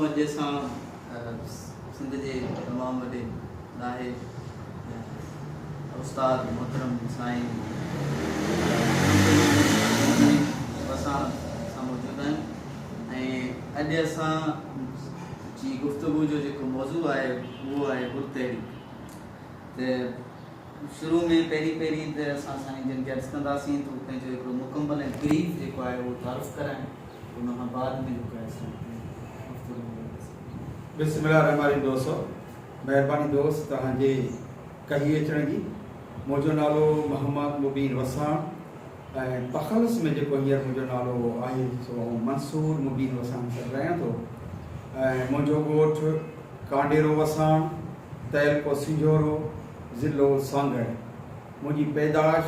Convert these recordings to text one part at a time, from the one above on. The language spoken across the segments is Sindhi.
اڄ اسان سنڌ جي تمام وڏي ڏاهي استاد محترم سائين اسان سان موجود آهيون ۽ اڄ اسان جي گفتگو جو جيڪو موضوع آهي اهو آهي گل تحريڪ ته شروع ۾ پهرين پهرين ته اسان سائين جن کي عرض ڪنداسين ته پنهنجو هڪڙو مڪمل ۽ بريف جيڪو آهي اهو تعارف ڪرائين ان کان بعد ۾ هڪ ايڪسيڊنٽ تي هفتو ڏينهن لڳس. بسم الله الرحمٰن الرحيم دوستو مهرباني دوست توهان جي ڪهي اچڻ جي منهنجو نالو محمد مبين وساڻ ۽ تخلص ۾ جيڪو هينئر منهنجو نالو آهي سو آئون منصور مبين وساڻ سڏ رهيان ٿو ۽ منهنجو ڳوٺ ڪانڊيرو وساڻ تعلقو سنجهورو ضلعو سانگهڙ منهنجي پيدائش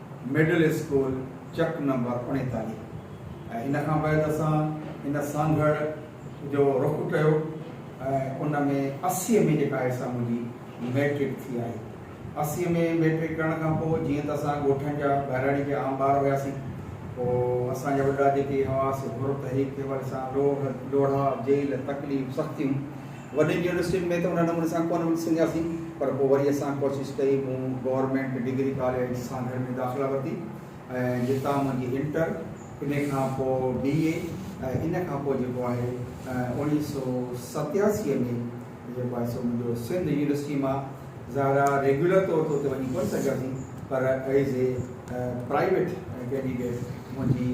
مڊل اسڪول چڪ نمبر اڻيتاليهه ۽ ان کان بعد اسان ان سانگهڙ جو رخ ڪيو ۽ ان ۾ اسي ۾ جيڪا آهي سا منهنجي مئٽرڪ ٿي آهي اسي ۾ مئٽرڪ ڪرڻ کان پوء جيئن ته اسان ڳوٺن جا ٻهراڙي جا عام ٻار هياسين پوء اسان جا وڏا جيڪي هئا سي حر تحريڪ تي وري اسان لوڙها جيل تڪليف سختيون وڏين يونيورسٽين ۾ ته ان نموني سان ڪونه وٺي سگهياسين پر پوء وري اسان ڪوشش ڪئي مون گورنمينٽ ڊگري ڪاليج سانگهڙ ۾ داخلا ورتي ۽ جتان منهنجي انٽر ان کان پوء بي اي ۽ ان کان پوء جيڪو آهي اوڻيهه سؤ ستياسي ۾ جيڪو آهي سو منهنجو سنڌ يونيورسٽي مان زهرا ريگيولر طور تي اتي وڃي ڪونه سگهياسين پر ايز اي پرائيويٽ ڪينڊيڊيٽ منهنجي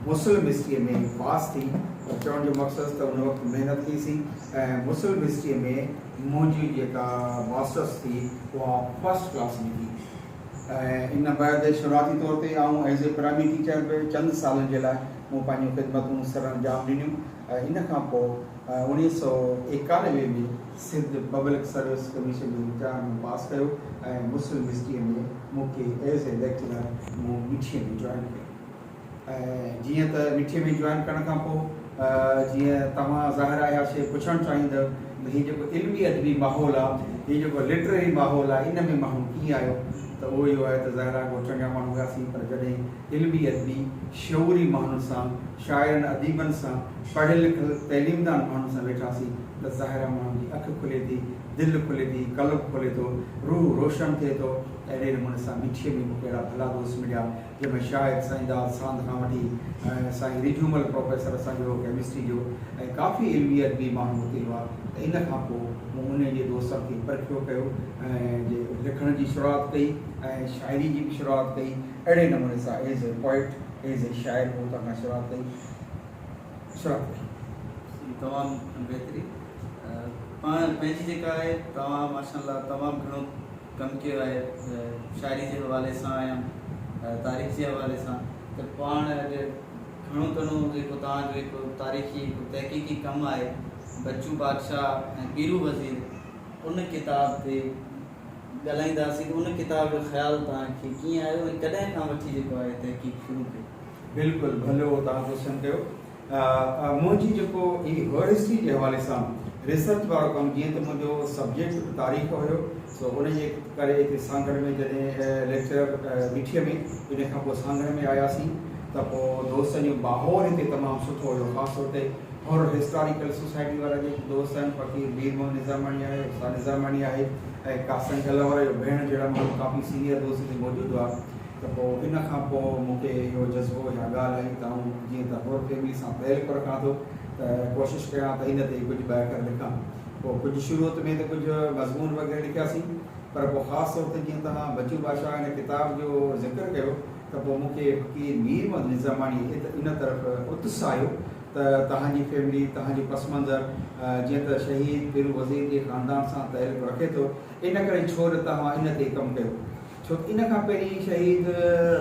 مسلم هسٽري ۾ پاس ٿي پر چوڻ جو مقصد ته ان وقت محنت ٿي سي ۽ مسلم هسٽري ۾ منهنجي جيڪا ماسٽرس ٿي اها فرسٽ ڪلاس ۾ ٿي ۽ ان بعد شروعاتي طور تي آئون ايز اي پرائمري ٽيچر به چند سالن جي لاء مون پنهنجون خدمتون سر انجام ڏنيون ۽ ان کان پوء اوڻيهه سؤ ايڪانوي ۾ سنڌ پبلڪ سروس ڪميشن جي امتحان مون پاس ڪيو ۽ مسلم هسٽريء ۾ مون کي ايز اي ليڪچرر مون مٺيء ۾ جوائن ڪيو ۽ جيئن ته مٺيء ۾ جوائن ڪرڻ کان پوء جيئن توهان ظاهر آهي اها شيء پڇڻ چاهيندؤ ته هي جيڪو علمي ادبي ماحول آهي هي جيڪو لٽرري ماحول آهي ان ۾ ماڻهو ڪيئن آيو ته اهو اهو آهي ته ظاهر آهي ڳوٺن جا ماڻهو هئاسين پر جڏهن علمي ادبي شعوري ماڻهن سان شاعرن اديبن سان، پڙهيل لکيل تعليمدان ماڻهن سان ويٺاسين ته ظاهر آ ماڻهن جي اک کلي ٿي، دل کلي ٿي، قلب کلي ٿو، روح روشن ٿئي ٿو. اهڙي نموني سان مٺيء ۾ مون کي اهڙا ڀلا دوست مليا جن ۾ شاعر سائين داد ساند کان وٺي سائين رجهومل پروفيسر اسان جو هو ڪيمسٽري جو ۽ ڪافي علمي ادبي ماڻهو اتي هئا ته ان کان پوء مون انهن جي دوستن کي پرکيو ڪيو ۽ لکڻ جي شروعات ڪئي ۽ شاعري جي به شروعات ڪئي. اهڙي نموني سا as a poet, as a شاعر هو اتان کان شروعات ڪئي شروعات ڪئي. سي تمام بهترين پاڻ پنهنجي جيڪا آهي توهان ماشاء الله تمام گهڻو ڪم ڪيو آهي شاعري جي حوالي سان يا تاريخ جي حوالي سان ته پاڻ اڄ گهڻو گهڻو جيڪو توهان جو هڪ تاريخي هڪ تحقيقي ڪم آهي بچو بادشاهه ۽ پيرو وزير ان ڪتاب تي ڳالهائينداسين ته ان ڪتاب جو خيال توهان کي ڪيئن آيو ۽ ڪڏهن کان وٺي جيڪو آهي تحقيق شروع ڪئي؟ بلڪل ڀلو توهان ڪوشچن ڪيو. منهنجي جيڪو هي هر هسٽري جي حوالي سان ريسرچ وارو ڪم جيئن ته منهنجو سبجيڪٽ به تاريخ هيو سو ان جي ڪري هتي سانگهڙ ۾ جڏهن ليڪچرر مٺيء ۾ ان کان پوء سانگهڙ ۾ آياسين ته پوء دوستن جو ماحول هتي تمام سٺو هيو خاص طور تي هور هسٽاريڪل سوسائٽي وارن جي دوست آهن، فقير مير محمد نظاماڻي آهي، استاد نظاماڻي آهي ۽ قاسم ڪلهوڙ جو ڀيڻ جهڙا ماڻهو ڪافي سينيئر دوست هتي موجود هئا ته پوء ان کان پوء مون کي اهو جذبو يا ڳالهه آئي ته آئون جيئن ته هور فيملي سان تعلق رکان ٿو ته ڪوشش ڪريان ته ان تي ڪجهه ٻه اکر لکان پوء ڪجهه شروعت ۾ ته ڪجهه مضمون وغيره لکياسين پر پوء خاص طور تي جيئن توهان بچو بادشاهه ان ڪتاب جو ذڪر ڪيو ته پوء مون کي فقير مير محمد نظاماڻي ان طرف اتساهيو ته توهان جي فيملي، توهان جو پس منظر جيئن ته شهيد پيرو وزير جي خاندان سان تعلق رکي ٿو، ان ڪري ڇو نه توهان ان تي ڪم ڪيو. ڇو ته ان کان پهرين شهيد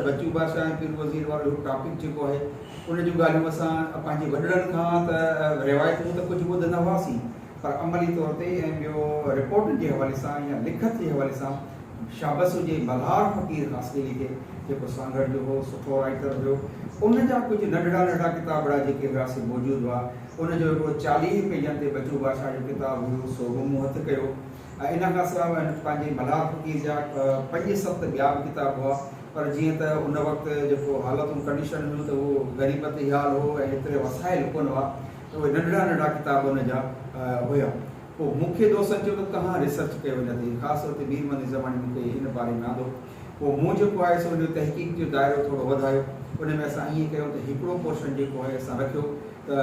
بچو بادشاهه ۽ پيرو وزير وارو هڪ ٽاپڪ جيڪو آهي، ان جون ڳالهيون اسان پنهنجي وڏڙن کان ته روايتون ته ڪجهه ٻڌندا هئاسين، پر عملي طور تي ۽ ٻيو رپورٽن جي حوالي سان يا لکت جي حوالي سان شابس هجي ملهار فقير خاصخيلي کي جيڪو سانگهڙ جو هو سٺو رائيٽر هيو ان جا ڪجهه ننڍڙا ننڍڙا ڪتابڙا جيڪي هيا سي موجود هئا ان جو هڪڙو چاليهه پيجن تي بچو بادشاهه جو ڪتاب هيو سو به مون هٿ ڪيو ۽ ان کان سواء هن پنهنجي ملهار فقير جا پنج ست ٻيا به ڪتاب هئا پر جيئن ته ان وقت جيڪو حالتون ڪنڊيشن هيون ته اهو غريبت هيال هو ۽ هيتري وسائل ڪونه هئا اهي ننڍڙا ننڍڙا ڪتاب ان جا هيا. پوء مون کي دوستن چيو ته ڪهان ريسرچ ڪيو ان تي، خاص طور تي مير مني زماني مون کي ان باري ۾ آندو. پوء مون جيڪو آهي سو ان جو تحقيق جو دائرو ٿورو وڌايو. ان ۾ اسان ائين ڪيون ته هڪڙو پورشن جيڪو آهي اسان رکيو ته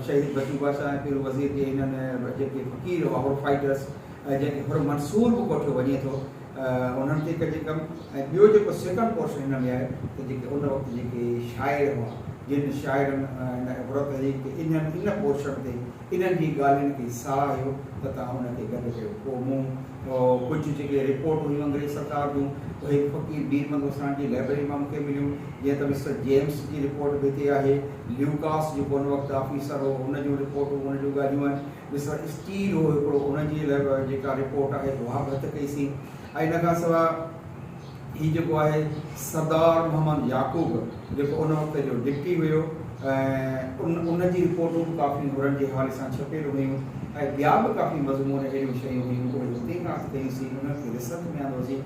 شهيد بچو بادشاهه ۽ پيرو وزير جي انهن جيڪي فقير هئا، هر فائيٽرس، جنهن کي هر منصور به ڪوٺيو وڃي ٿو، انهن تي ڪجهه ڪم ۽ ٻيو جيڪو سيڪنڊ پورشن هن ۾ آهي ته جيڪي ان وقت جيڪي شاعر هئا جن شاعرن ان عبرت هئي ته انهن ان پورشن تي انهن جي ڳالهين کي ساهه هيو ته توهان ان کي گڏ ڪيو پوء مون ڪجهه جيڪي رپورٽ هيون انگريز سرڪار جون اهي به فقير بير بندو ساڻ جي لائبرري مان مون کي مليون جيئن ته مسٽر جيمس جي رپورٽ به هتي آهي ليوڪاس جيڪو ان وقت آفيسر هو ان جون رپورٽون ان جون ڳالهيون آهن مصر اسٽيل هو هڪڙو ان جي لاء به جيڪا رپورٽ آهي اها به هٿ ڪئي سين ۽ ان کان سواء هي جيڪو آهي سردار محمد يعقوب جيڪو ان وقت جو ڊپٽي هيو ۽ ان ان جي رپورٽون به ڪافي نورن جي حوالي سان ڇپيل هيون ۽ ٻيا به ڪافي مضمون اهڙيون شيون هيون اهي هتي کان اٿ ڪيون سين انهن کي رسرچ ۾ آندو سين.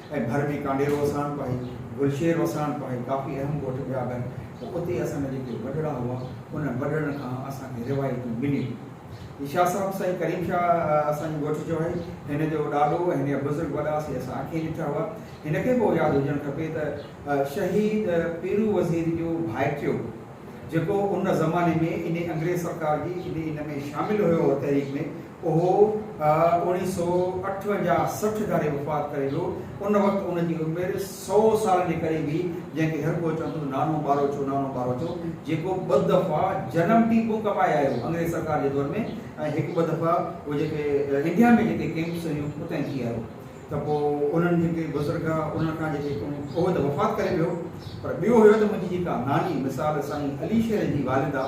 ۽ ڀر ۾ ڪانڊيرو وساڻ پاهي، گلشير وساڻ پاهي ڪافي اهم ڳوٺ ٻيا به آهن ته اتي اسان جا جيڪي وڏڙا هئا انهن وڏڙن کان اسان کي روايتون مليون. هي شاهه صاحب سائين ڪريم شاهه اسان جي ڳوٺ جو آهي. هن جو ڏاڏو ۽ هن جا بزرگ وڏا سي اسان اکين ڏٺا هئا. هن کي به اهو ياد هجڻ کپي ته شهيد پيرو وزير جو ڀائٽيو جيڪو ان زماني ۾ انهي انگريز سرڪار جي انهي ان ۾ شامل هيو تحريڪ ۾، اهو اوڻيهه سؤ اٺونجاهه سٺ ڌاري وفات ڪري ويو. ان وقت ان جي عمر سؤ سال جي قريب هئي، جنهن کي هر ڪو چوندو هو نانو ٻاروچو، نانو ٻاروچو، جيڪو ٻه دفعا جنم ٽيڪون ڪپائي آيو هو انگريز سرڪار جي دور ۾ ۽ هڪ ٻه دفعا اهو جيڪي انڊيا ۾ جيڪي ڪيمپس هيون اتان ئي ٿي آيو هو. ته پوء انهن جيڪي بزرگ ها انهن کان جيڪي ڪنهن اهو ته وفات ڪري ويو پر ٻيو هيو ته منهنجي جيڪا ناني مثال سائين علي شير جي والده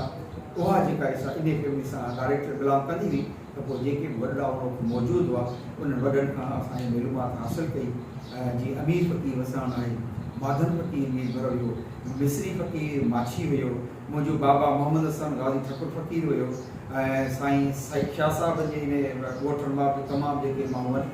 اها جيڪا هي سا انهي فيملي سان ڊائريڪٽ بلانگ ڪندي هئي ته پوء جيڪي به وڏڙا ان وقت موجود هئا انهن وڏن کان اسان هي معلومات حاصل ڪئي جي امير فقير وساڻ آهي ماڌن فقير مير ڀر هيو مصري فقير ماڇي هيو منهنجو بابا محمد حسن غازي ٺڪر فقير هيو ۽ سائين سائيد شاهه صاحب جي انهي ڳوٺ مان به تمام جيڪي ماڻهو هئن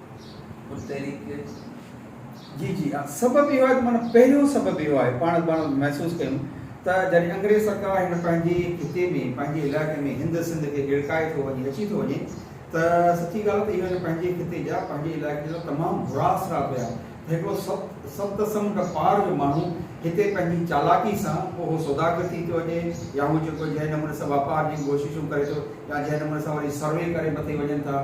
ھن تحريڪ کي جي جي ھا سبب اھو آھي ته معنيٰ پهريون سبب اھو آھي پاڻ پاڻ محسوس ڪيون ته جڏھن انگريز سرڪار ھن پنھنجي خطي ۾ پنھنجي علائقي ۾ ھند سنڌ کي ھيڙڪائي ٿو وڃي اچي ٿو وڃي ته سچي ڳالھه ته اھي ھن پنھنجي خطي جا پنھنجي علائقي جا تمام برا اثرات ھيا ته ھڪڙو سب سبت سمنڊ پار جو ماڻھو ھتي پنھنجي چالاڪي سان پوء ھو سوداگر ٿي ٿو وڃي يا ھو جيڪو جنھن نموني سان واپار جون ڪوششون ڪري ٿو يا جنھن نموني سان وري سروي ڪري مٿي وڃن ٿا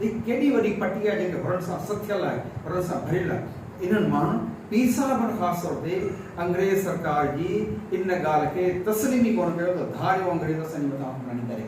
هي ڪيڏي وڏي پٽي آهي جيڪا هرن سان سٿيل آهي، هرن سان ڀريل آهي. انهن مان پير صاحبن خاص طور تي انگريز سرڪار جي ان ڳالهه کي تسليم ئي ڪونه ڪيو ته ڌاريو انگريز اسان جي مٿان حڪمراني ڪري.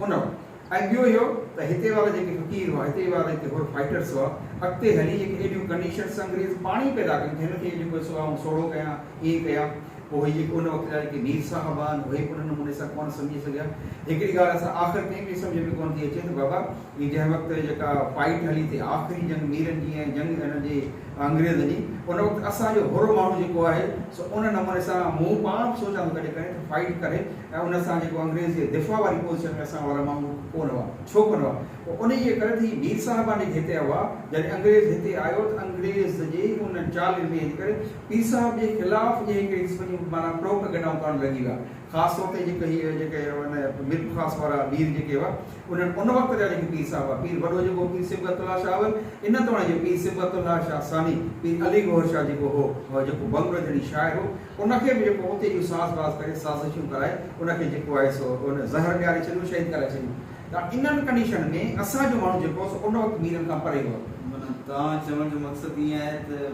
ان وقت ۽ ٻيو اهو ته هتي وارا جيڪي فقير هئا، هتي وارا جيڪي هور فائيٽرس هئا، اڳتي هلي جيڪي اهڙيون ڪنڊيشنس انگريز پاڻ ئي پيدا ڪن ٿي هن کي جيڪو سو آئون سوڙهو ڪيان، ائين ڪيان. اهي جيڪي ان وقت جا جيڪي مير صاحب آهن اهي به ان نموني سان ڪونه سمجهي سگهيا. هڪڙي ڳالهه اسان آخر تائين به سمجهه ۾ ڪونه ٿي اچي ته بابا هي جنهن وقت جيڪا فائيٽ هلي ٿي آخري جنگ ميرن جي ۽ جنگ هن جي انگريزن جي ان وقت اسان جو هر ماڻهو جيڪو آهي سو ان نموني سان مون پاڻ به سوچان ٿو ڪڏهن ڪڏهن ته فائيٽ ڪري ۽ ان سان جيڪو انگريز جي دفاع واري پوزيشن ۾ اسان وارا ماڻهو ڪونه هئا ڇو ڪونه هئا پوء انهي جي ڪري ته هي مير صاحبان جيڪي هتي هئا جڏهن انگريز هتي آيو ته انگريز جي ان چالن ۾ ان ڪري پير صاحب جي خلاف جي هڪڙي قسم جون معنيٰ پروپ گنڊائون ڪرڻ لڳي ويا. خاص طور تي جيڪي هي جيڪي هن مير پرخاص وارا مير جيڪي هئا انهن ان وقت جا جيڪي پير صاحب هئا پير وڏو جيڪو پير صبغت الله شاهه اول ان توڻي جو پير صبغت الله شاهه ثاني پير علي گوهر شاهه جيڪو هو هو جيڪو بنگلو جهڙي شاعر هو ان کي به جيڪو اتي جو ساز باز ڪري سازشون ڪرائي ان کي جيڪو آهي سو ان زهر ڏياري ڇڏيو شهيد ڪرائي ڇڏيو ته انهن ڪنڊيشن ۾ اسان جو ماڻهو جيڪو سو ان وقت ميرن کان پري هو. معنيٰ توهان چوڻ جو مقصد ائين آهي ته.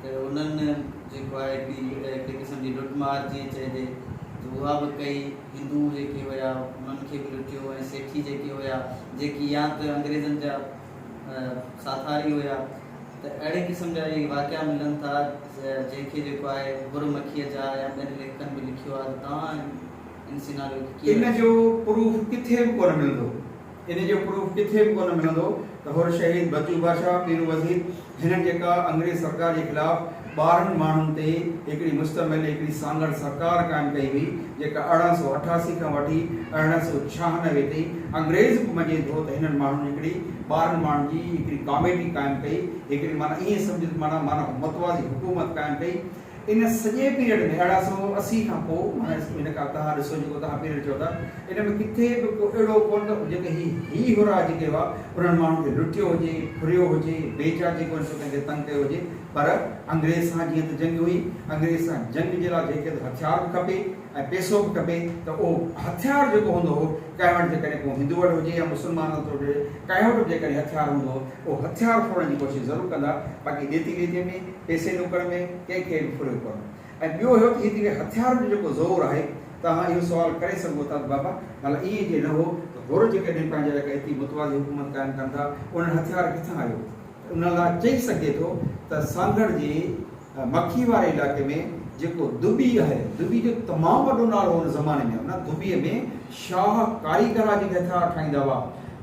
ته انهن جيڪو آهي هڪڙي قسم جي لٽ مار جيئن چئجي ته اها به ڪئي. هندو جيڪي هيا انهن کي به لٽيو ۽ سيٺي جيڪي هيا جيڪي يا ته انگريزن جا ساٿاري هيا ته اهڙي قسم جا اهي واقعا ملن ٿا جنهن کي جيڪو آهي ڀر مکيء جا يا ٻين ليکڪن به لکيو آهي ته توهان ان سيناريو کي ڪيئن رکيو. ان جو پروف ڪٿي به ڪونه ملندو. ان جو پروف ڪٿي به ڪونه ملندو ته حر شهيد بچو بادشاهه پيرو وزير هن جيڪا انگريز سرڪار جي خلاف ٻارهن ماڻهن تي هڪڙي مشتمل هڪڙي سانگهڙ سرڪار قائم ڪئي هئي جيڪا ارڙهن سؤ اٺاسي کان وٺي ارڙهن سؤ ڇهانوي تائين انگريز به مڃين ٿو ته هنن ماڻهن هڪڙي ٻارهن ماڻهن جي هڪڙي ڪاميٽي قائم ڪئي هڪڙي معنيٰ ائين سمجهه ته معنيٰ معنيٰ متوازي حڪومت قائم ڪئي ان سڄي پيريڊ ۾ ارڙهن سؤ اسي کان پوء معنيٰ هن ڪا تهان ڏسو جيڪو تهان پيريڊ چئو ٿا ان ۾ ڪٿي به ڪو اهڙو ڪونه ته جيڪي هي هي هرا جيڪي هئا انهن ماڻهن کي لٽيو هجي ڦريو هجي بي جا جيڪو هن ڪنهن کي تنگ ڪيو هجي پر انگريز سان جيئن ته جنگ هئي انگريز سان جنگ جي لاء جنهن کي ته هٿيار به کپي ۽ پيسو به کپي ته اهو هٿيار جيڪو هوندو هو ڪنهن وٽ جيڪڏهن ڪو هندو وٽ هجي يا مسلمان وٽ هجي ڪنهن وٽ به جيڪڏهن هٿيار هوندو هو اهو هٿيار ڦرڻ جي ڪوشش ضرور ڪندا باقي ڏيتي ليتي ۾ پئسي نوڪر ۾ ڪنهن کي به ڦريو ڪونه ۽ ٻيو هيو ته هيتري هٿيارن جو جيڪو زور آهي توهان اهو سوال ڪري سگهو ٿا ته بابا ڀلا ايئن جي نه هو ته هور جيڪڏهن پنهنجي لاء ڪا ايتري متوازي حڪومت قائم ڪن ٿا انهن هٿيار ڪٿان آيو ته ان لاء چئي سگهجي ٿو ته سانگهڙ جي مکي واري علائقي ۾ جيڪو دٻي آهي دٻي جو تمام وڏو نالو هو ان زماني ۾ ان دٻي ۾ شاهه ڪاري ڪرا جي ڪٿا ٺاهيندا هئا.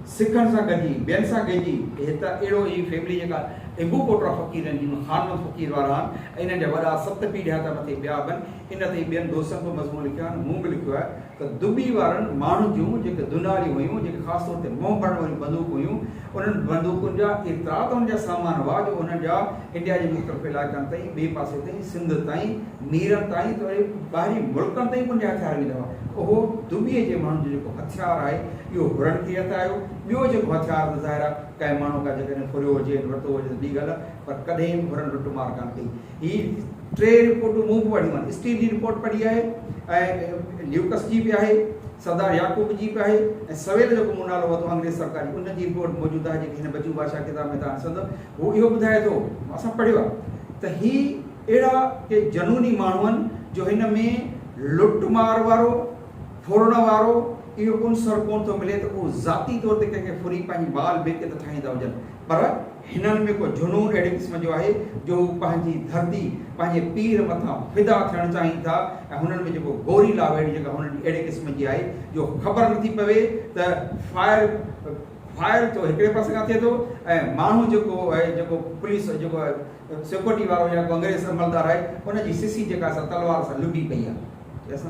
سکن سان گڏجي، ٻين سان گهجي، هي ته اهڙو ئي فيملي جيڪا هنگو ڪوٽرا فقيرن جي ۾ خانمند فقير وارا آهن ۽ انهن جا وڏا ست پيڙهيا ته مٿي ٻيا به آهن. ان تي ٻين دوستن به مضمون لکيا آهن، مون به لکيو آهي ته دٻي وارن ماڻهن جون جيڪي دونهاريون هيون، جيڪي خاص طور تي منهن ڀرڻ واريون بندوقون هيون، انهن بندوقن جا ايترا ته ان جا سامان هئا جو انهن جا انڊيا جي مختلف علائقن تائين ٻئي پاسي تائين سنڌ تائين نيرن تائين ته وري ٻاهرين ملڪن تائين به ان جا هٿيار ويندا هئا اهو دٻي جي ماڻهن جو جيڪو هٿيار آهي اهو هرڻ کي هٿ آيو ٻيو جيڪو هٿيار ته ظاهر آهي ڪنهن ماڻهو کان جيڪڏهن ڦريو هجي ورتو هجي ته ٻي ڳالهه پر ڪڏهن به هرڻ لٽ مار ڪانه ڪئي هي ٽي رپورٽون مون به پڙهيون آهن اسٽيل جي رپورٽ پڙهي آهي ۽ ليوڪس جي به آهي سردار يعقوب جي به آهي ۽ سويل جو به مون نالو ورتو انگريز سرڪار جي ان جي رپورٽ موجود آهي جيڪي هن بچو بادشاهه ڪتاب ۾ تان سندو هو اهو ٻڌائي ٿو اسان پڙهيو آهي ته هي اهڙا ڪي جنوني ماڻهو آهن جو هن ۾ لٽ مار وارو ڦرڻ وارو اهو عنصر ڪونه ٿو ملي ته اهو ذاتي طور تي ڪنهن کي ڦري پنهنجي بال بيڪت ٺاهيندا هجن پر هنن ۾ ڪو جنون اهڙي قسم جو آهي جو هو پنهنجي ڌرتي، پنهنجي پير مٿان فدا ٿيڻ چاهين ٿا ۽ هنن ۾ جيڪو گوري لاويڙي جيڪا هنن جي اهڙي قسم جي آهي جو خبر نٿي پوي ته فائر فائر ٿو هڪڙي پاسي کان ٿئي ٿو ۽ ماڻهو جيڪو آهي جيڪو پوليس جيڪو سيڪورٽي وارو يا ڪو انگريز عملدار آهي ان جي سسي جيڪا سا تلوار سان لڏي پئي آهي.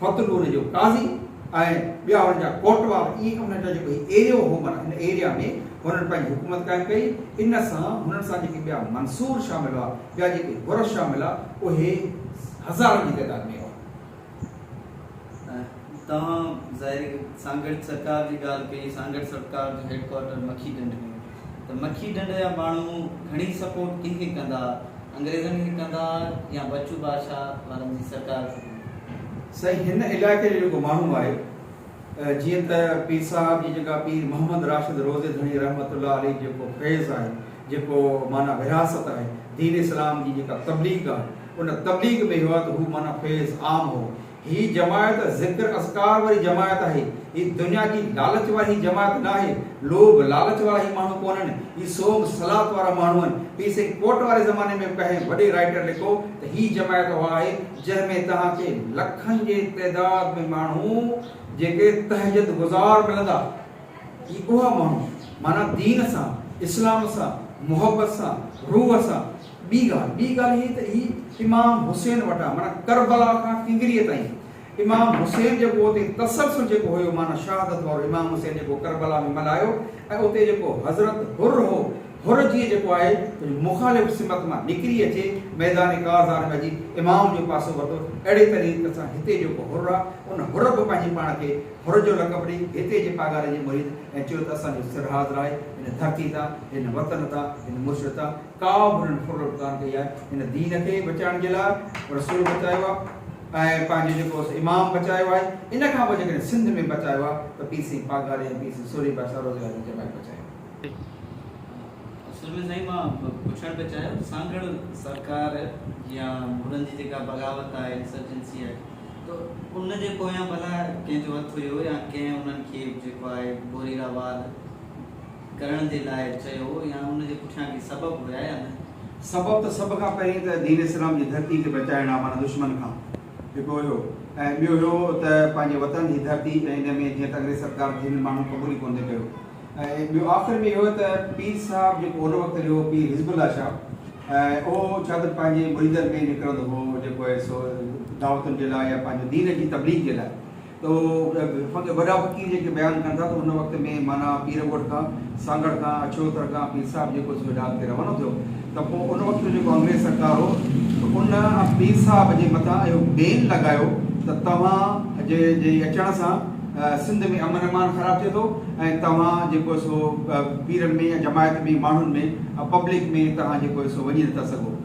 فتحپور جو قاضي ۽ ٻيا هن جا ڪوٽوال اهي ڪم نه ڪيا جيڪو هي ايريو هو معنيٰ ان ايريا ۾ هنن پنهنجي حڪومت قائم ڪئي ان سان هنن سان جيڪي ٻيا منصور شامل هئا ٻيا جيڪي حر شامل هئا اهي هزارن جي تعداد ۾ هئا. توهان ظاهر سانگهڙ سرڪار جي ڳالهه ڪئي سانگهڙ سرڪار جو هيڊ ڪوارٽر مکي ڍنڍ ۾ هو. ته مکي ڍنڍ جا ماڻهو گهڻي سپورٽ ڪنهن کي ڪندا انگريزن کي ڪندا يا بچو بادشاهه وارن جي سرڪار کي ڪندا. سائين هن علائقي جو جيڪو ماڻهو آهي جيئن ته پير صاحب جي جيڪا پير محمد راشد روضي ڌڻي رحمة الله عليه جيڪو فيض آهي جيڪو معنيٰ ورهاست آهي دين اسلام جي جيڪا تبليغ آهي ان تبليغ ۾ هئا ته هو معنيٰ فيض عام هو هي جماعت ذڪر اذڪار واري جماعت آهي. هي دنيا جي لالچ واري جماعت ناهي. لوڀ لالچ وارا هي ماڻهو ڪونهن. هي سومب سلاٿ وارا ماڻهو آهن. پير سائين ڪوٽ واري زماني ۾ ڪنهن وڏي رائيٽر لکو ته هي جماعت اها آهي جنهن ۾ توهان کي لکن جي تعداد ۾ ماڻهو جيڪي تهجد گذار ملندا. هي اها ماڻهو معنيٰ دين سان، اسلام سان، محبت سان، روح سان، ٻي ڳالهه ٻي ڳالهه هي ته هي امام حسين وٽان معنيٰ ڪربلا کان ڪنگريء تائين امام حسين جيڪو اتي تسلسل جيڪو هيو معنيٰ شهادت وارو امام حسين جيڪو ڪربلا ۾ ملهايو ۽ اتي جيڪو حضرت حر هو حر جيئن جيڪو آهي ڪجهه مخالف سمت مان نڪري اچي ميدان ڪارزار ۾ اچي امام جو پاسو ورتو اهڙي طريقي سان هتي جيڪو حر آهي ان حر به پنهنجي پاڻ کي حر جو لقب ڏئي هتي جي پاڳاري جي مريد ۽ چيو ته اسان جو سرحاضر آهي هن ڌرتي تان هن وطن تان هن مرشد تان ڪا به هنن ڦرلٽ ڪانه ڪئي آهي هن دين کي بچائڻ جي لاء رسول بچايو آهي ۽ پنهنجو جيڪو امام بچايو آهي ان کان پوء جيڪڏهن سنڌ ۾ بچايو آهي ته پير سائين پاڳاري ۽ پير سائين سورهيه ڀائي سارو زيارت جي جماعت بچائي اصل ۾ سائين مان پڇڻ پيو چاهيان سانگهڙ سرڪار يا مغلن جي جيڪا بغاوت آهي انسرجنسي آهي ته ان جي پويان ڀلا ڪنهن جو هٿ هيو يا ڪنهن انهن کي جيڪو آهي بوري را وار ڪرڻ جي لاء چيو يا ان جي پٺيان ڪي سبب هيا يا نه؟ سبب ته سڀ کان پهرين ته دين اسلام جي ڌرتي کي بچائڻ آ معنيٰ دشمن کان هڪ هيو ۽ ٻيو هيو ته پنهنجي وطن جي ڌرتي ۽ ان ۾ جيئن ته انگريز سرڪار کي هن ماڻهن قبول ئي ڪونه ڪيو ۽ ٻيو آخر ۾ اهو ته پير صاحب جيڪو ان وقت جو پير حزب الله شاهه ۽ اهو ڇا ته پنهنجي مريدن ۾ نڪرندو هو جيڪو آهي سو دعوتن جي لاء يا پنهنجي دين جي تبليغ جي لاء ته فقط وڏا فقير جيڪي بيان ڪن ٿا ته ان وقت ۾ معنيٰ پير ڳوٺ کان سانگهڙ کان اڇڙوتر کان پير صاحب جيڪو سڄو ڏاهپ ٿي روانو ٿيو ته پوء ان وقت جو جيڪو انگريز سرڪار هو ته ان پير صاحب جي مٿان اهو بين لڳايو ته توهان جي جي اچڻ سان سنڌ ۾ امن امان خراب ٿئي ٿو ۽ توهان جيڪو سو پيرن ۾ يا جماعت ۾ ماڻهن ۾ پبلڪ ۾ توهان جيڪو سو وڃي نٿا سگهو.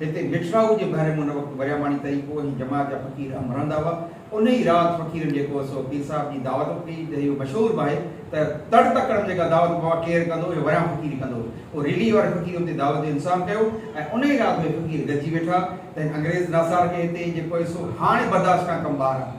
هتي مٺڙائو جي ڀر ۾ ان وقت ورياماڻي طريقو هو ۽ جماعت جا فقير اهم رهندا هئا. ان ئي رات فقيرن جيڪو هو سو پير صاحب جي دعوت به ڪئي. هتي اهو مشهور به آهي ته تڙ تڪڙ ۾ جيڪا دعوت بابا ڪير ڪندو هو يا وريان فقير ئي ڪندو هو. ريليء واري فقير اتي دعوت جو انتظام ڪيو ۽ ان ئي رات اهي فقير گڏجي ويٺا. تنهن انگريز ناسار کي هتي جيڪو آهي سو هاڻي برداشت کان ڪم ٻاهر آهي.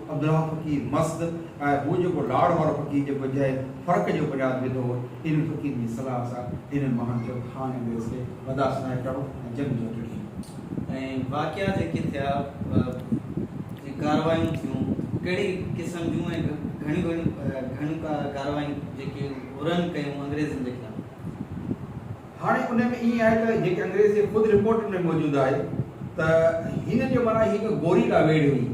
عبدالله فقير مست ۽ هو جيڪو لاڙ وارو فقير جيڪو انتهائي فرق جو بنياد وڌو هو، انهن فقيرن جي صلاح سان هنن ماڻهن چيو ته خان انگريز کي برداشت ناهي ڪرڻو ۽ جنگ جي هٿ ڏيڻي. ۽ واقعا جيڪي ٿيا ۽ ڪارروايون ٿيون ڪهڙي قسم جون ۽ گهڻيون گهڻيون ڪارروايون جيڪي هرن ڪيون انگريزن جي خلاف. هاڻي ان ۾ ائين آهي ته جيڪي انگريز جي خود رپورٽن ۾ موجود آهي ته هن جو معنيٰ هيء هڪ گوري لا ويڙهي هئي.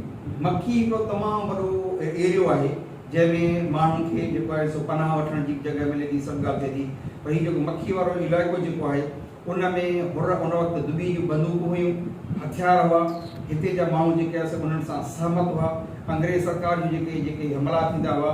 مڪي هڪڙو تمام وڏو ايريو آهي جنهن ۾ ماڻهن کي جيڪو آهي سو پناهه وٺڻ جي جڳهه ملي ٿي سڀ ڳالهه ٿئي ٿي پر هي جيڪو مڪي وارو علائقو جيڪو آهي ان ۾ حر ان وقت دٻي جون بندوقون هيون هٿيار هئا هتي جا ماڻهو جيڪي آهي سو انهن سان سهمت هئا انگريز سرڪار جون جيڪي جيڪي حملا ٿيندا هئا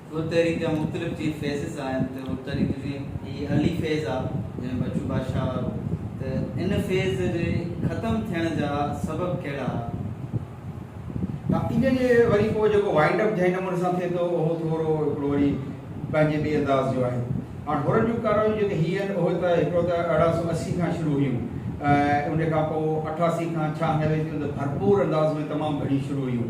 اهي تحريڪ جا مختلف جيئن فيزز آهن ته اهي تحريڪ جيئن هي علي فيز آ جنهن بچو بادشاهه وارو ته ان فيز جي ختم ٿيڻ جا سبب ڪهڙا ها؟ ها ان جي وري پوء جيڪو وائنڊ اپ جنهن نموني سان ٿئي ٿو اهو ٿورو هڪڙو وري پنهنجي ٻئي انداز جو آهي. هاڻ هرن جون ڪاروايون جيڪي هيئن اهي ته هڪڙو ته ارڙهن سؤ اسي کان شروع هيون ۽ ان کان پوء اٺاسي کان ڇهه نوي تائين ته ڀرپور انداز ۾ تمام گهڻيون شروع هيون.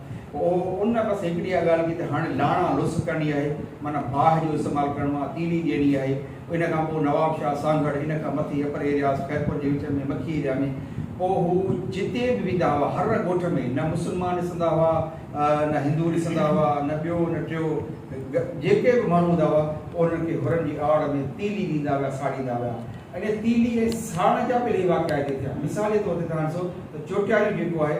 او ان بس هڪڙي اها ڳالهه ڪئي ته هاڻي لاڻا لس ڪرڻي آهي، معنيٰ باهه جو استعمال ڪرڻو آهي، تيلي ڏيڻي آهي. ان کان پوء نواب شاهه سانگهڙ، ان کان مٿي اپر ايرياز، خيرپور جي وچ ۾ مکي ايريا ۾، پوء هو جتي به ويندا هئا، هر ڳوٺ ۾ نه مسلمان ڏسندا هئا، نه هندو ڏسندا هئا، نه ٻيو نه ٽيو، جيڪي به ماڻهو هوندا هئا، پوء انهن کي هرن جي آڙ ۾ تيلي ڏيندا ويا، ساڙيندا ويا. انهيء تيلي ۽ ساڙڻ جا به الاهي واقعا هتي ٿيا. مثال جي طور تي توهان ڏسو ته چوٽياريون جيڪو آهي،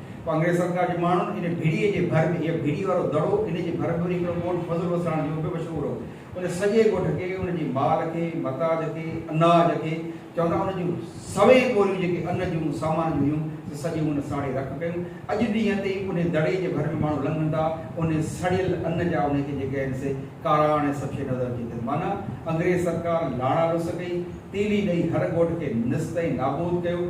ڪانگريس سرڪار جي ماڻهن ان ڀيڙيء جي ڀر ۾ هيء ڀيڙيء وارو دڙو، ان جي ڀر ۾ وري هڪڙو ڳوٺ فضل وساڻ جو به مشهور هو. ان سڄي ڳوٺ کي، ان جي مال کي، متاج کي، اناج کي، چوندا ان جون سوين ٻوريون جيڪي ان جون، سامان جون هيون، سي سڄيون هن ساڙي رک ڪيون. اڄ ڏينهن تائين انهيء دڙي جي ڀر ۾ ماڻهو لنگهن ٿا، انهيء سڙيل ان جا انهيء کي جيڪي آهن سي ڪاراڻ ۽ سڀ شيء نظر اچي اٿن. معنيٰ انگريز سرڪار لاڙا لوس ڪئي، تيلي ڏئي هر ڳوٺ کي نست ۽ نابود ڪيو.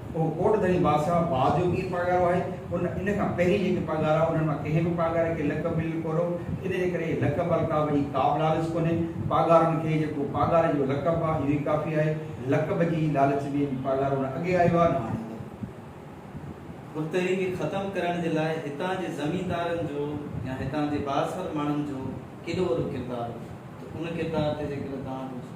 اهو ڪوٽ ڌڻي بادشاهه باز جو پير پاڳارو آهي. ان ان کان پهرين جيڪي پاڳارا انهن مان ڪنهن به پاڳاري کي لقب مليل ڪونه هو. ان جي ڪري لقب القاب جي ڪابه لالچ ڪونهي. پاڳارن کي جيڪو پاڳاري جو لقب آهي اهو ئي ڪافي آهي. لقب جي لالچ ۾ به پاڳارو نه اڳي آيو آهي نه هاڻي ايندو. ملتهري کي ختم ڪرڻ جي لاء هتان جي زميندارن جو يا هتان جي بااثر ماڻهن جو ڪيڏو وڏو ڪردار هو ته ان ڪردار تي جيڪڏهن توهان ڪجهه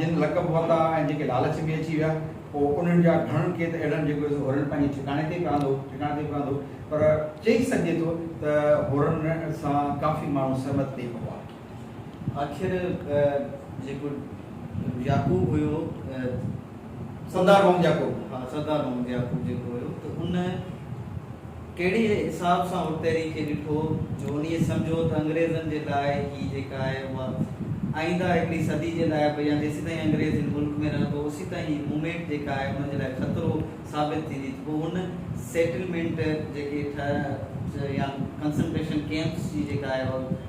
جن لقب ورتا ۽ جيڪي لالچ ۾ اچي ويا پوء انهن جا گهڻن کي ته اهڙن جيڪو سو هورن پنهنجي ٺڪاڻي تي پراندو ٺڪاڻي تي پراندو پر چئي سگهجي ٿو ته هورن سان ڪافي ماڻهو سهمت ٿئي پئا. آخر جيڪو يعقوب هيو سردار محمد يعقوب ها سردار محمد يعقوب جيڪو هيو ته ان ڪهڙي حساب سان اڻتيري کي ڏٺو جو ان هي سمجهو ته انگريزن جي لاء هي جيڪا آهي اها آئينده هڪڙي صدي جي لاء به يا جيسيتائين انگريز هن ملڪ ۾ رهندو اوسيتائين هي مومينٽ جيڪا آهي انهن جي لاء خطرو ثابت ٿيندي ته پوء ان سيٽلمينٽ جيڪي ٺهه يا ڪنسنٽريشن ڪيمپس جي جيڪا آهي اها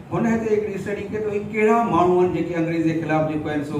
هن هتي هڪڙي اسٽڊي ڪئي ته اهي ڪهڙا ماڻهو آهن جيڪي انگريز جي خلاف جيڪو آهن سو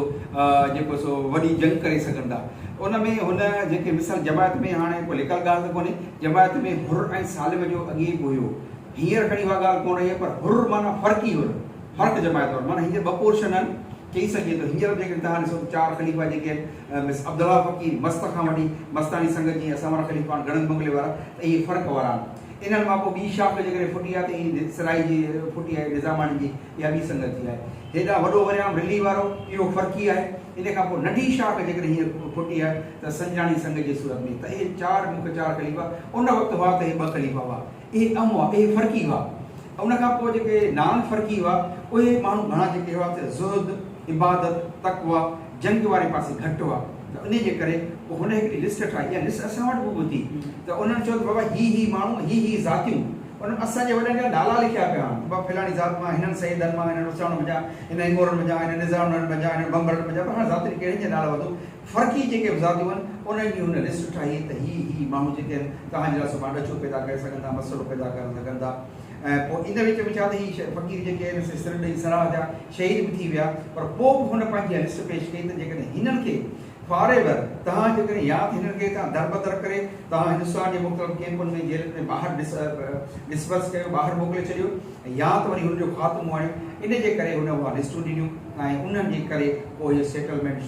جيڪو سو وڏي جنگ ڪري سگهن ٿا ان ۾ هن جيڪي مثال جماعت ۾ هاڻي ڪو لڪل ڳالهه ته ڪونهي جماعت ۾ حر ۽ سالم جو اڳي به هيو هينئر کڻي اها ڳالهه ڪونه رهي پر حر معنيٰ فرقي حر فرق جماعت وارو معنيٰ هينئر ٻه پورشن آهن چئي سگهجي ٿو هينئر به جيڪڏهن توهان ڏسو ته چار خليفا جيڪي آهن مس عبدالله فقير مست کان وٺي مستاڻي سنگت جي اسان وارا خليفا آهن گڙهن بنگلي وارا ته اهي فرق وارا آهن انهن مان ڪو ٻي شاخ جيڪڏهن ڦٽي آهي ته ايئن ئي سرائي جي ڦٽي آهي، نظاماڻي جي اها ٻي سنگت جي آهي. هيڏانهن وڏو وريام رلي وارو اهو فرقي آهي. ان کان پوء ننڍي شاخ جيڪڏهن هينئر ڦٽي آهي ته سنجاڻي سنگ جي صورت ۾. ته اهي چار مک چار خليفا ان وقت هئا ته اهي ٻه خليفا هئا. اهي اهم هئا. اهي فرقي هئا. ان کان پوء جيڪي نان فرقي هئا اهي ماڻهو گهڻا جيڪي هئا ته زهد، عبادت، تقويٰ، جنگ واري پاسي گهٽ هئا ته انهي جي ڪري پوء هن هڪڙي لسٽ ٺاهي اها لسٽ اسان وٽ به هوندي ته انهن چيو ته بابا هي هي ماڻهو ۽ هي هي ذاتيون انهن اسان جي وڏن جا نالا لکيا پيا آهن ته بابا فلاڻي ذات مان هنن سيدن مان هنن اساڻن منجهان هنن امورن منجهان هنن نظارنن منجهان هنن بنبرن منجهان بهرحال ذاتين ڪهڙين جي نالا وڌو فرقي جيڪي به ذاتيون آهن انهن جي هن لسٽ ٺاهي ته هي هي ماڻهو جيڪي آهن توهان جي لاء سڀان ڏچو پيدا ڪري سگهن ٿا مسئلو پيدا ڪري سگهن ٿا ۽ پوء ان وچ ۾ ڇا ته هي فقير جيڪي هن کي سر ڏئي سراهه جا شهيد به ٿي ويا پر پوء به هن پنهنجي اها لسٽ پيش ڪئي ته جيڪڏهن هنن کي فار ايور توهان جيڪڏهن يا ته هنن کي هتان دربدر ڪري توهان هندستان جي مختلف ڪيمپن ۾ جيلن ۾ ٻاهر ڊسپرس ڪيو ٻاهر موڪلي ڇڏيو يا ته وري هن جو خاتمو آڻيو ان جي ڪري هن اها لسٽون ڏنيون ۽ انهن جي ڪري پوء اهو سيٽلمينٽ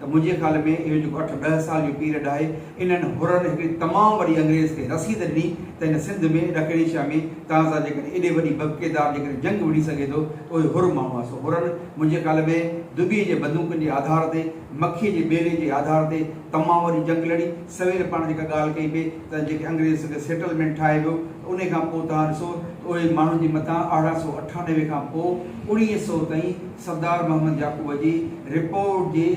ته منهنجي خيال ۾ اهو جيڪو اٺ ڏهه سال جو پيريڊ آهي، انهن حرن هڪڙي تمام وڏي انگريز کي رسيد ڏني ته هن سنڌ ۾ ڏکڻ ايشيا ۾ توهان سان جيڪڏهن ايڏي وڏي ببڪيدار جيڪڏهن جنگ وڙهي سگهي ٿو ته اهي حر ماڻهو آهن سو حرن منهنجي خيال ۾ دٻي جي بندوقن جي آڌار تي مکي جي ٻيلي جي آڌار تي تمام وڏي جنگ لڙي سوير پاڻ جيڪا ڳالهه ڪئي پئي ته جيڪي انگريز سيٽلمينٽ ٺاهي ويو انهي کان پوء توهان ڏسو ته اهي ماڻهن جي مٿان ارڙهن سؤ اٺانوي کان پوء اوڻيهه سؤ تائين سردار محمد يعقوب جي رپورٽ جي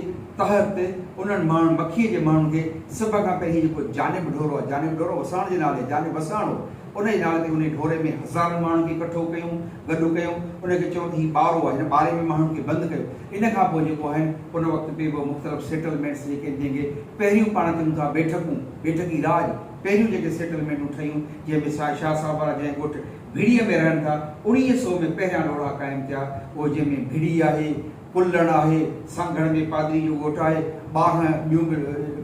تحت انهن ماڻهن مکي جي ماڻهن کي سڀ کان پهرين جيڪو جانب ڍورو آهي جانب ڍورو وساڻ جي نالي جانب وساڻ هو ان جي نالي تي انهي ڍوري ۾ هزارن ماڻهن کي ڪٺو ڪيو گڏ ڪيو ان کي چيو ته هي ٻارو آهي هن ٻاري ۾ ماڻهن کي بند ڪيو ان کان پوء جيڪو آهن ان وقت پي به مختلف سيٽلمينٽس جيڪي آهن جنهن کي پهريون پاڻ چون ٿا بيٺڪون بيٺڪي راڄ پهريون جيڪي سيٽلمينٽون ٺهيون، جنهن ۾ سائين شاهه صاحب وارا جنهن ڳوٺ ڀيڙيء ۾ رهن ٿا، اوڻيهه سئو ۾ پهريان روهڙا قائم ٿيا، اهي جنهن ۾ ڀيڙي آهي، پلڻ آهي، سانگهڙ ۾ پادري جو ڳوٺ آهي، ٻارهن ٻيون به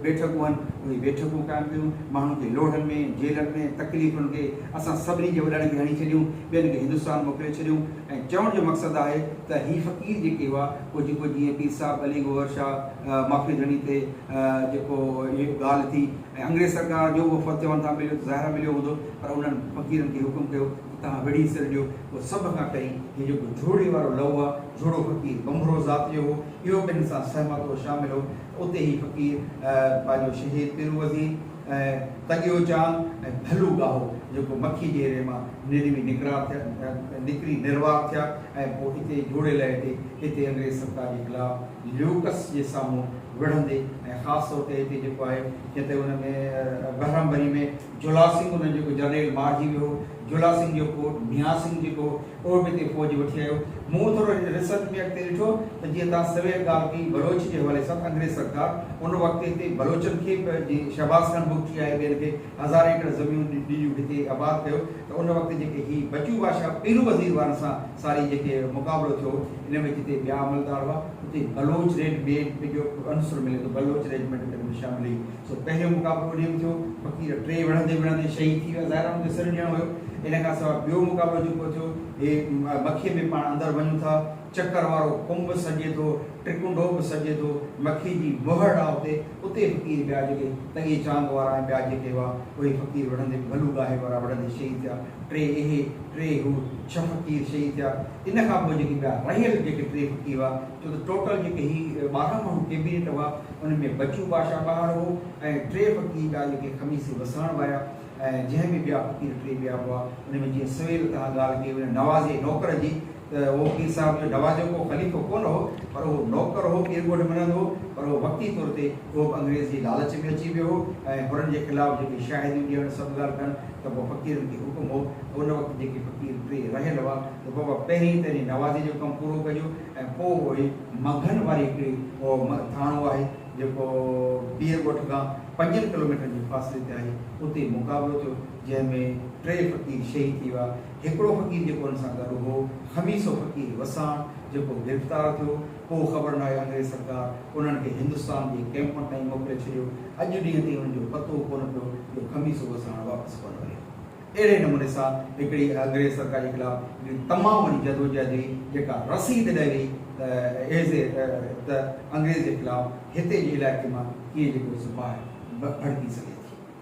بيٺڪون هن، اهي بيٺڪون قائم ڪيون، ماڻهن کي لوڙهن ۾، جيلن ۾، تڪليفن کي اسان سڀني جي وڏڙن کي هڻي ڇڏيون، ٻين کي هندستان موڪلي ڇڏيون ۽ چوڻ جو مقصد آهي ته هي فقير جيڪي هئا، پوء جيڪو جيئن پير صاحب علي گوهر شاهه معافي ڌڻي تي جيڪو هي ڳالهه ٿي. ۽ انگريز سرڪار جو وفد چوڻ تان پهريون ته ظاهرا مليو هوندو، پر انهن فقيرن کي حڪم ڪيو ته توهان ويڙهي سر ڏيو. پوء سڀ کان پهرين هي جيڪو جهوڙي وارو لئو آ، جهوڙو فقير ٻنڀرو ذات جو هو، اهو به هن سان سهمت هو، شامل هو، ته اتي هي فقير پنهنجو شهيد پيرو وزير ۽ تڳيو چانگ ۽ ڀلو ڳاهو جيڪو مکي جي ري مان نروي نڪرا ٿيا نڪري نروار ٿيا ۽ پوء اتي جهوڙي لئي تي هتي انگريز سرڪار جي خلاف ليوڪس جي سامهون وڙهندي ۽ خاص طور تي هتي جيڪو آهي جتي ان ۾ بهرام بري ۾ جولا سنگهه انهن جيڪو جرنيل مارجي ويو هو جولا سنگهه جو پوٽ ميان سنگهه جيڪو هو اهو به هتي فوج وٺي آيو مون ٿورو ريسرچ ۾ اڳتي ڏٺو ته جيئن توهان سوير ڳالهه ڪئي بلوچ جي حوالي سان انگريز سرڪار ان وقت هتي بلوچن کي به جي شهباز خان بگٽي آهي ٻين کي هزار ايڪڙ زميون ڏي هتي آباد ڪيو ته ان وقت جيڪي هي بچو بادشاهه پيرو وزير وارن سان ساري جيڪي مقابلو ٿيو ان ۾ جتي ٻيا عملدار هئا اتي بلوچ ريڊ ميڊ جو به عنصر ملي ٿو بلوچ ريجمينٽ ۾ به شامل هئي سو پهريون مقابلو انهي ۾ ٿيو فقير ٽي وڙهندي وڙهندي شهيد ٿي ويا ظاهر آهي ان جو سر ڏيڻو هيو ان کان سواء ٻيو مقابلو جيڪو ٿيو هي مکي ۾ پاڻ اندر وڃون ٿا چڪر وارو ڪنب سڏجي ٿو ٽرڪنڊو به سڏجي ٿو مکي جي مهڙ آهي اتي اتي فقير ٻيا جيڪي تڳي چانگ وارا ۽ ٻيا جيڪي هئا، اهي فقير وڙهندي به ڀلو گاهي وارا وڙهندي شهيد ٿيا. ٽي اهي، ٽي هو، ڇهه فقير شهيد ٿيا. ان کان پوء جيڪي ٻيا رهيل جيڪي ٽي فقير هئا، ڇو ته ٽوٽل جيڪي هي ٻارهن ماڻهو ڪيبينيٽ هئا، ان ۾ بچو باشا ٻاهر هو ۽ ٽي فقير ٻيا جيڪي خميسي وسهڻ ويا ۽ جنهن ۾ ٻيا فقير ٽي ٻيا هئا، ان ۾ جيئن سويل توهان ڳالهه ڪئي هئي نه نوازي نوڪر جي، ته اهو پير صاحب جو نوازيو ڪو خليفو ڪونه هو پر اهو نوڪر هو، پير ڳوٺ مڃندو هو پر اهو وقتي طور تي اهو به انگريز جي لالچ ۾ اچي ويو هو ۽ هرن جي خلاف جيڪي شاهديون ڏيڻ سڀ ڳالهه ڪن ته پوء فقيرن کي حڪم هو ته ان وقت جيڪي فقير ٽي رهيل هئا ته بابا پهرين ته انهي نوازي جو ڪم پورو ڪجو ۽ پوء اهي مگهن واري هڪڙي اهو ٿاڻو آهي جيڪو پير ڳوٺ کان پنجن ڪلوميٽرن جي فاصلي تي آهي اتي مقابلو ٿيو جنهن ۾ ٽي فقير شهيد ٿي ويا هڪڙو فقير جيڪو ان سان گڏ هو خميسو فقير وساڻ جيڪو گرفتار ٿيو پوء خبر ناهي انگريز سرڪار انهن کي هندستان جي ڪئمپن تائين موڪلي ڇڏيو اڄ ڏينهن تائين ان جو پتو ڪونه پيو جو خميسو وساڻ واپس ڪونه وريو اهڙي نموني سان هڪڙي انگريز سرڪار جي خلاف هڪڙي تمام وڏي جدوجهد هئي جيڪا رسيد ڏئي وئي ته ايز اي ته انگريز جي خلاف هتي جي علائقي مان ڪيئن جيڪو سپاهه ڀڙڪي سگهي ٿي.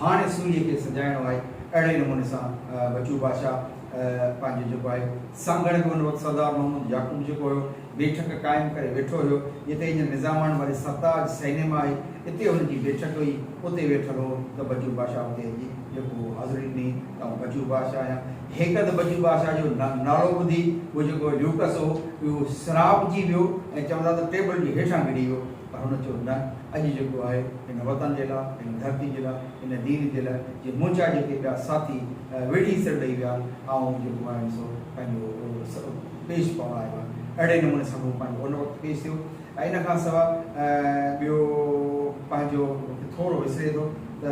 هاڻي سوريء کي سجائڻو آهي. اهڙي نموني سان بچو بادشاهه پنهنجو جيڪو آهي سانگهڙ به ان وقت سردار محمود يعقوب جيڪو هيو بيٺڪ قائم ڪري ويٺو هيو، جتي اڄ نظامان واري سرتاج سئنيما آهي، اتي هن جي بيٺڪ هئي، اتي ويٺل هو ته بچو بادشاهه اتي اچي جيڪو هو حاضري ڏني ته آئون بچو بادشاهه آهيان. هيڪ ته بچو بادشاهه جو نالو ٻڌي هو جيڪو ليوڪس هو اهو سرهاپجي ويو ۽ چون ٿا ته ٽيبل جي هيٺان ڪري ويو. پر هن چيو، نه، اڄ جيڪو آهي، هن وطن جي لاء، هن ڌرتي جي لاء، هن دين جي لاء، جي منهنجا جيڪي ٻيا ساٿي ويڙهي سر ڏئي ويا، آئون جيڪو آهيان سو پنهنجو پيش پوڻ آيو آهيان. اهڙي نموني سان هو پنهنجو ان وقت پيش ٿيو ۽ ان کان سواء ٻيو پنهنجو ٿورو وسري ٿو ته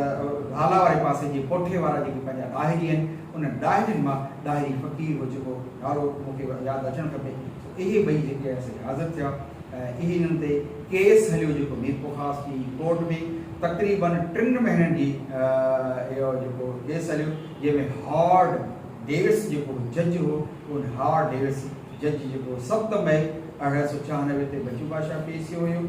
ڀالا واري پاسي جي ڪوٺي وارا جيڪي پنهنجا ڏاهري آهن، انهن ڏاهرين مان ڏاهري فقير هو جيڪو ڏاڙهو مون کي ياد اچڻ کپي، اهي ٻئي جيڪي آهن سي حاضر ٿيا ۽ اهي انهن تي ڪيس هليو جيڪو ميرپورخاص جي ڪورٽ ۾ تقريباً ٽن مهينن جي اهو جيڪو ڪيس هليو جنهن ۾ هارڊ ڊيوس جيڪو جج هو ان هارڊ ڊيوس جج جيڪو ست مئي ارڙهن سؤ ڇهانوي تي بچو بادشاهه پيش ٿيو هيو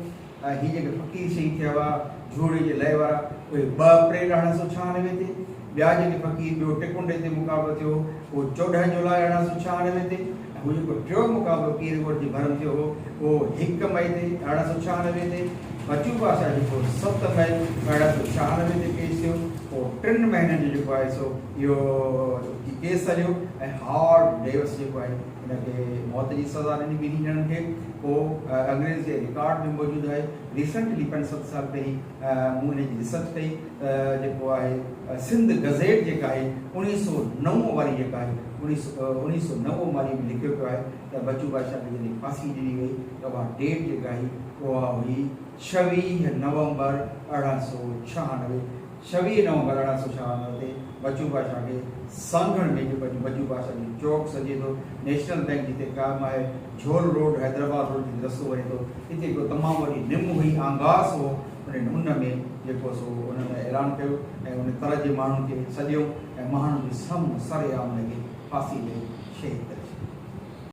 ۽ هي جيڪي فقير شهيد ٿيا هئا جهوڙي جي لئي وارا اهي ٻه اپريل ارڙهن سؤ ڇهانوي تي ٻيا جيڪي فقير ٻيو ٽڪنڊي تي مقابلو ٿيو هو اهو چوڏهن جولاء ارڙهن سؤ ڇهانوي تي ۽ هو جيڪو ٽيون مقابلو پير ڳوٺ جي ڀرم ٿيو هو اهو هڪ مئي تي ارڙهن سؤ ڇهانوي تي بچو بادشاهه جيڪو ست مئي ارڙهن سؤ ڇهانوي تي پيش ٿيو اهو ٽن مهينن جو جيڪو آهي سو اهو ڪيس هليو ۽ هارڊ ڊيوس جيڪو آهي هن کي موت جي سزا ڏني ٻنهي ڄڻن کي اهو انگريز جي رڪارڊ ۾ موجود آهي ريسنٽلي پنج ست سال پهرين مون ان جي ريسرچ ڪئي ته جيڪو آهي سنڌ گزيٽ جيڪا آهي اوڻيهه سؤ نو واري جيڪا آهي اوڻيهه سؤ نو واري ۾ لکيو پيو آهي ته بچو بادشاهه کي جڏهن ڦاسي ڏني وئي ته اها ڊيٽ جيڪا هئي اها هئي ڇويهه نومبر ارڙهن سؤ ڇهانوي، ڇويهه نومبر ارڙهن سؤ ڇهانوي تي بچو باشا کي سانگهڙ ۾ جيڪو اڄ بچو باشا جو چوڪ سڏجي ٿو، نيشنل بئنڪ جتي قائم آهي، جهول روڊ، حيدرآباد روڊ جتي رستو وڃي ٿو، اتي هڪ تمام وڏي نم هئي، آنگاس هو، انهن ان ۾ جيڪو سو انهن اعلان ڪيو ۽ ان تر جي ماڻهن کي سڏيو ۽ مهاڻن جي سامهون سرعام لڳي ڦاسي ڏئي شهيد ڪري ڇڏيو.